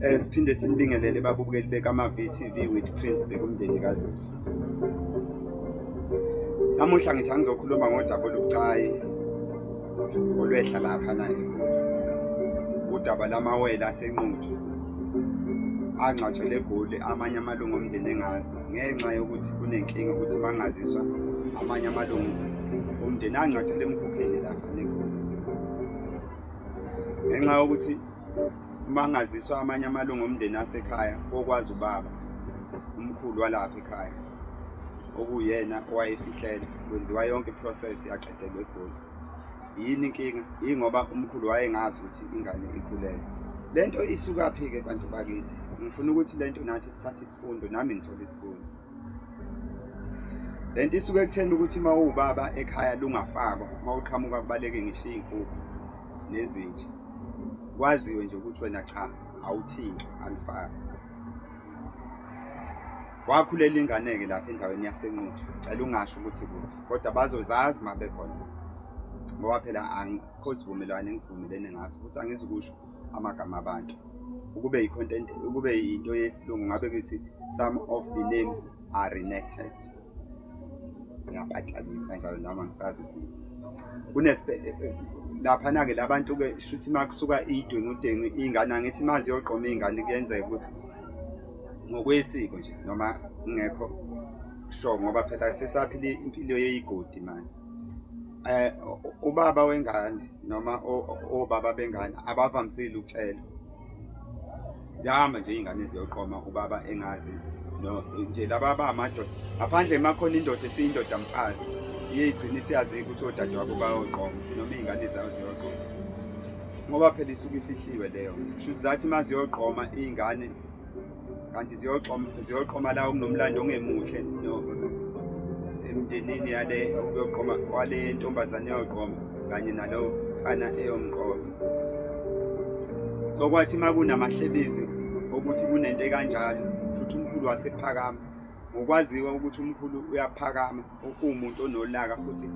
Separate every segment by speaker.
Speaker 1: Eh siphinde sinibingelele babukeli bekama VTV with Prince Bekumndeni kaZulu. Namuhla ngithi angizokhuluma ngodaba olubucayi olwehla lapha na eGoli. Udaba lamawele asenquthu angcwatshelwe eGoli amanye amalungu omndeni engazi ngenxa yokuthi kunenkinga ukuthi bangaziswa amanye amalungu omndeni angcwatshelwe emkhukheni lapha neGoli. Ngenxa yokuthi uma ngaziswa amanye amalungu omndeni asekhaya okwazi ubaba umkhulu walapha ekhaya okuyena owayefihlela kwenziwa yonke iprocess yaqedelwa egoli yini inkinga yingoba umkhulu wayengazi ukuthi ingane ikhulelwe le nto isukaphi-ke bantu bakithi ngifuna ukuthi le nto nathi sithathe isifundo nami ngithole isifundo le nto isuke ekutheni ukuthi uma uwubaba ekhaya lungafakwa uma uqhamuka kubaleke ngisho iy'nkukhu nezinja kwaziwe nje ukuthi wena cha awuthingi alifaki wakhulela ingane-ke lapha endaweni yasenquthu cela ungasho ukuthi kuphi kodwa bazozazi uma bekhona ngoba phela angikho sivumelwane engivumelene ngaso futhi angizukusho amagama abantu ukube i-content ukube into yesilungu ngabe kuthi some of the names are renected ngiyaphatalisa njalo noma ngisazi sini kunespe eh, eh, laphana-ke labantu-ke shuthi uma kusuka idwengudengu iy'ngane angithi uma ziyoqoma iy'ngane kuyenzeka ukuthi ngokwesiko nje noma ngekho sho ngoba phela sesaphile impilo yeyigodi manje eh ubaba wengane noma obaba bengane abavamisile ukutshela zihamba nje ingane ziyoqoma ubaba engazi no nje laba abamadoda ngaphandle emakhona indoda esiyindoda mfazi iyigcina isiyazi ukuthi odade wabo bayoqoma noma izingane zayo ziyoqoma ngoba phela isuke ifihliwe leyo shuthi zathi maziyoqoma izingane kanti ziyoqoma ziyoqoma la okunomlando ongemuhle emndenini yale okuyoqoma wale ntombazane yoqoma kanye nalo mfana eyomqoma so kwathi makunamahlebezi ukuthi kunento ekanjalo futhi umkhulu wasephakama ngokwaziwa ukuthi umkhulu uyaphakama uwumuntu onolaka futhi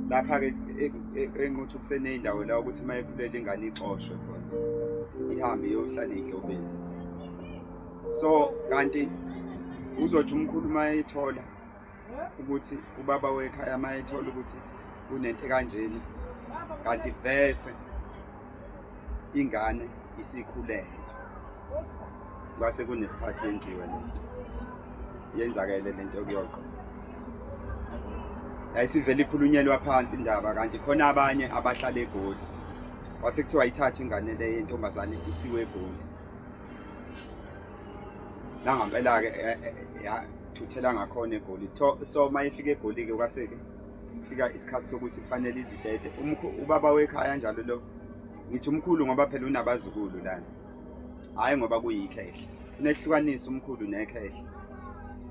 Speaker 1: lapha-ke e, e, enquthu kuseneyindawo la ukuthi uma ekhulele ingane ixoshwe khona ihambe iyohlala ehlobeni so kanti uzothi umkhulu uma ethola ukuthi ubaba wekhaya uma ethola ukuthi kunento kanjena kanti vese ingane isikhulele kwase kunesikhathi yenziwe lento yenzakele lento yokuyoqo yayisivele ikhulunyelwa phansi indaba kanti khona abanye abahlala egoli wase kuthiwa ithatha ingane le yentombazane isiwe egoli nangampela-ke eh, eh, yathuthela ngakhona egoli so uma ifika egoli-ke kwase-ke kufika isikhathi sokuthi kufanele izitete ubaba wekhaya njalo lo ngithi umkhulu ngoba phela unabazukulu lana hhayi ngoba kuyikhehla unehlukanisa umkhulu nekhehla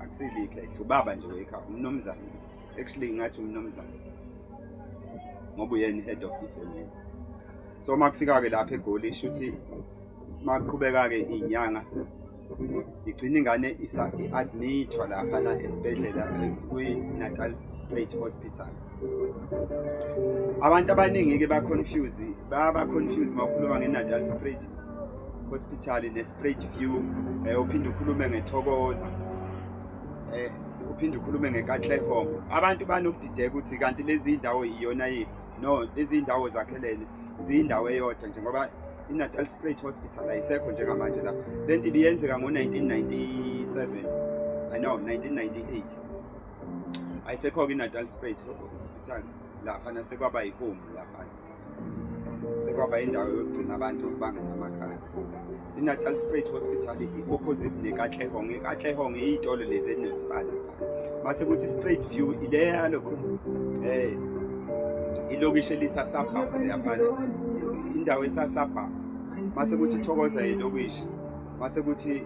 Speaker 1: akusile ikhehla ubaba nje wekhaya umnomzane actually ngathi umnomzane ngoba uyena i-head of the family so uma kufika-ke lapha egoli sho ukuthi uma kuqhubeka-ke iy'nyanga igcina ingane i-admithwa laphana esibhedlela kwi-natal straight hospital abantu abaningi-ke baconfuse babaconfuse uma ukhuluma nge-natal straight hospital ne-straight view um eh, uphinde ukhulume ngethokoza um eh, uphinde ukhulume ngenkatlehom abantu banokudideka ukuthi kanti lezi ndawo iyona yiphi no lezi ndawo zakhelene ziyindawo eyodwa nje ngoba iNatal Spruit Hospital ayisekho njengamanje la le nto ibiyenzeka ngo-1997 i know 1998 ayisekho-ke iNatal Spruit Hospital lapha nasekwaba yihome lapha sekwaba indawo yokugcina abantu abangenamakhaya iNatal Spruit Hospital i-opposite nekatlehong ikatlehong iyitolo lezi enesibala mase kuthi straight view ileya lokho eh ilokishi elisasabha yamane indawo esasabha mase kuthi thokoza ilokishi mase kuthi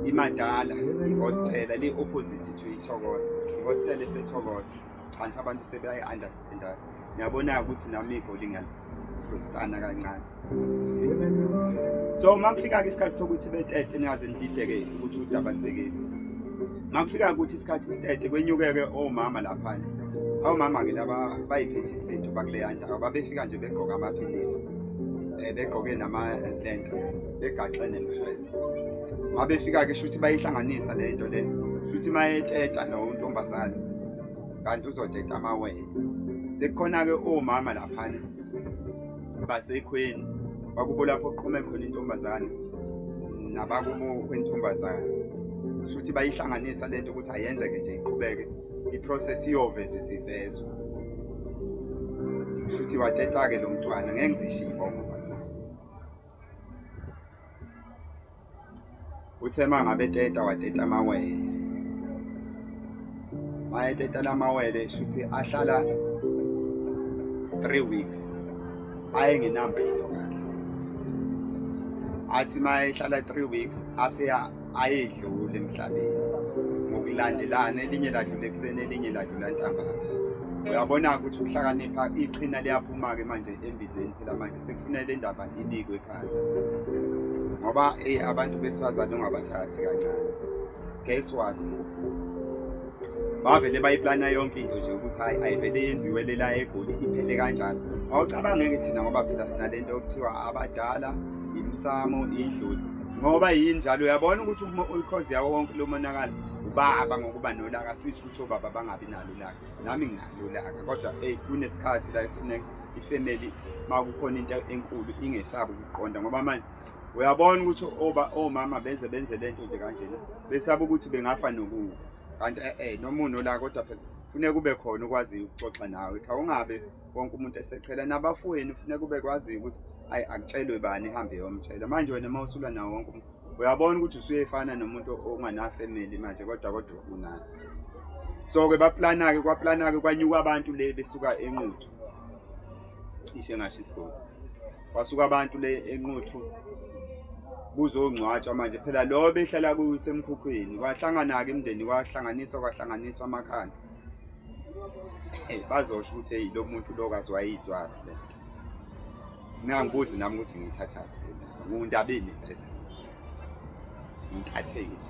Speaker 1: imadala ihostela li opposite to ithokoza ihostela esethokoza Chansi abantu sebeyayi understand. Ngiyabona ukuthi nami igoli ngiyal frustana kancane. So makufika ke isikhathi sokuthi betete ningaze nidideke ukuthi udaba libhekeni. Makufika ukuthi isikhathi sitete kwenyukeke omama lapha. Awu mama ke laba bayiphethe isinto bakuleya ndawo babefika nje begqoka amaphinifa. Eh begqoke nama lento begaxe nemfezi. Mabefika ke shuthi bayihlanganisa lento le. Shuthi mayeteta no ntombazane. kanti uzodeda amawele sekukhona-ke omama laphana basekhweni bakubo lapho kuqhume khona intombazane nabakubo kwentombazane shuthi bayihlanganisa le nto ukuthi ayenzeke nje iqhubeke iprocess iyovezwa isivezwa shuthi wateta-ke lo mntwana ngeke ngizishiye ibongo uthe uma ngabe teta wateta amawele mayeteta la mawele shuthi ahlala three weeks ayengenambelo kahle athi uma ehlala three weeks aseya ayedlule emhlabeni ngokulandelana elinye ladlula ekuseni elinye ladlula ntambama uyabona-ke ukuthi ukuhlakanipha iqhina liyaphuma-ke manje embizeni phela manje Sekufuneka le ndaba inikwe ekhaya ngoba eyi abantu besifazane ungabathathi kancane. Guess what? Bavele bayiplana yonke into nje ukuthi hayi ayivele yenziwe lela egoli iphele kanjani. Awucabangeke thina ngoba phela sinalento okuthiwa abadala imsamo idlozi ngoba yini njalo uyabona ukuthi ukhozi yawo wonke lo monakalo ubaba ngokuba nolaka sisho ukuthi obaba bangabi nalo ulaka nami nginalo ulaka kodwa eyi kunesikhathi la ekufuneka ifamily makukhona into enkulu ingesabi ukuqonda ngoba manje uyabona ukuthi oba omama beze benze lento nje kanjena besaba ukuthi bengafa nokufa kanti eh, eh noma unola kodwa phela funeka kube khona ukwazi ukuxoxa nawe cha ungabe wonke umuntu eseqhela nabafweni funeka kube kwazi ukuthi ayi akutshelwe bani ihambe yomtshela manje wena uma usula nawo wonke umuntu uyabona ukuthi usuyefana nomuntu onganafamily manje kodwa kodwa unayo so-ke baplanake kwaplanake kwanyuka abantu le besuka enquthu cishe ngasho isigodi kwasuka abantu le enquthu kuzongcwatshwa manje phela lo behlala kusemkhukhwini kwahlangana-ke imndeni kwahlanganiswa kwahlanganiswa amakhanda bazosho ukuthi eyi lo muntu lo kaziwayizwaphi le ngingangibuzi nami ukuthi ngiyithathaphi ngundabeni vese ngikhathekile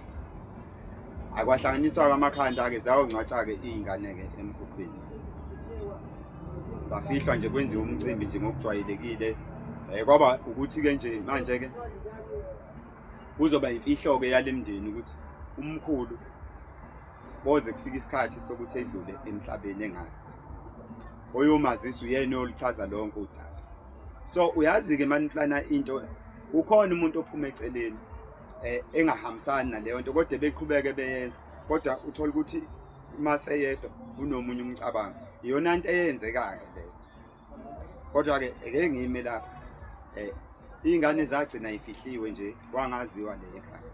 Speaker 1: akwahlanganiswa kwamakhanda-ke ziyawongcwatsha-ke iy'ngane-ke emkhukhwini zafihlwa nje kwenziwa umcimbi nje ngokujwayelekile um kwaba ukuthi-ke nje manje-ke kuzoba imfihlo-ke yale mndeni ukuthi umkhulu koze kufike isikhathi sokuthi edlule emhlabeni engazi oyomazisa uyena oluchaza lonke udaba so uyazi-ke mani plana into kukhona umuntu ophuma eceleni um engahambisani naleyo nto kodwa beqhubeke beyenza kodwa uthole ukuthi uma seyedwa unomunye umcabango iyona nto eyenzeka-ke leyo kodwa-ke eke ngime lapha um iy'ngane zagcina ifihliwe nje wangaziwa leyo ekhaya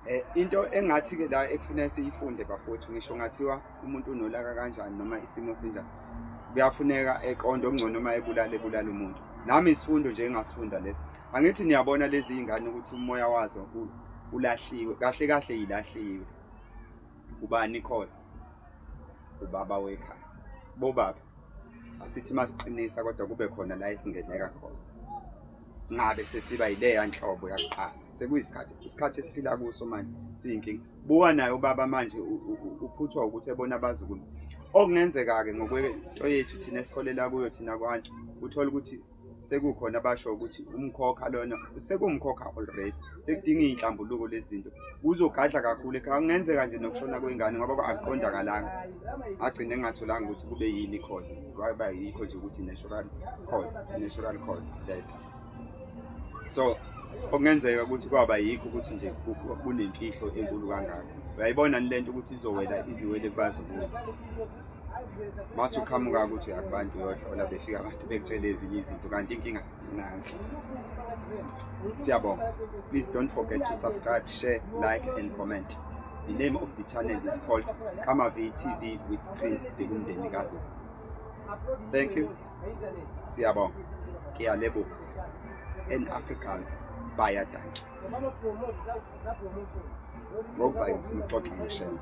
Speaker 1: Eh, into engathi ke la ekufuneka siyifunde bafowethu ngisho ngathiwa umuntu unolaka kanjani noma isimo sinjani kuyafuneka eqonde okungcono uma ebulala ebulala umuntu nami isifundo nje engasifunda le angithi niyabona lezi zingane ukuthi umoya wazo ulahliwe kahle kahle yilahliwe ubani cause ubaba wekhaya bobaba asithi masiqinisa kodwa kube khona la esingeneka khona ngabe sesiba yileya nhlobo yakuqala sekuyisikhathi isikhathi esiphila kuso manje siyinkinga buka naye ubaba manje uphuthwa ukuthi ebona abazukulu okungenzeka-ke ngokwento yethu thina esikholela kuyo thina kwantu uthole ukuthi sekukhona abasho ukuthi umkhokha lona sekumkhokha already sekudinga iy'nhlambuluko lezi zinto kuzogadla kakhulu ekhaya kungenzeka nje nokushona kwengane ngoba akuqondakalanga agcine engatholanga ukuthi kube yini cause kwaba yikho nje ukuthi natural cause natural cause that so okungenzeka ukuthi kwaba yikho ukuthi nje kunemfihlo enkulu kangaka uyayibona ni le nto ukuthi izowela iziwele kubazukulu mase uqhamuka ukuthi uyakubantu uyohlola befika abantu bekutshele ezinye izinto kanti inkinga nansi siyabonga please don't forget to subscribe share like and comment the name of the channel is called kamavi tv with prince ekumndeni kazo thank you siyabonga ngiyalebuka and africans bayadantsha ngokuzayo ngifuna ukuxoxa ngeshembe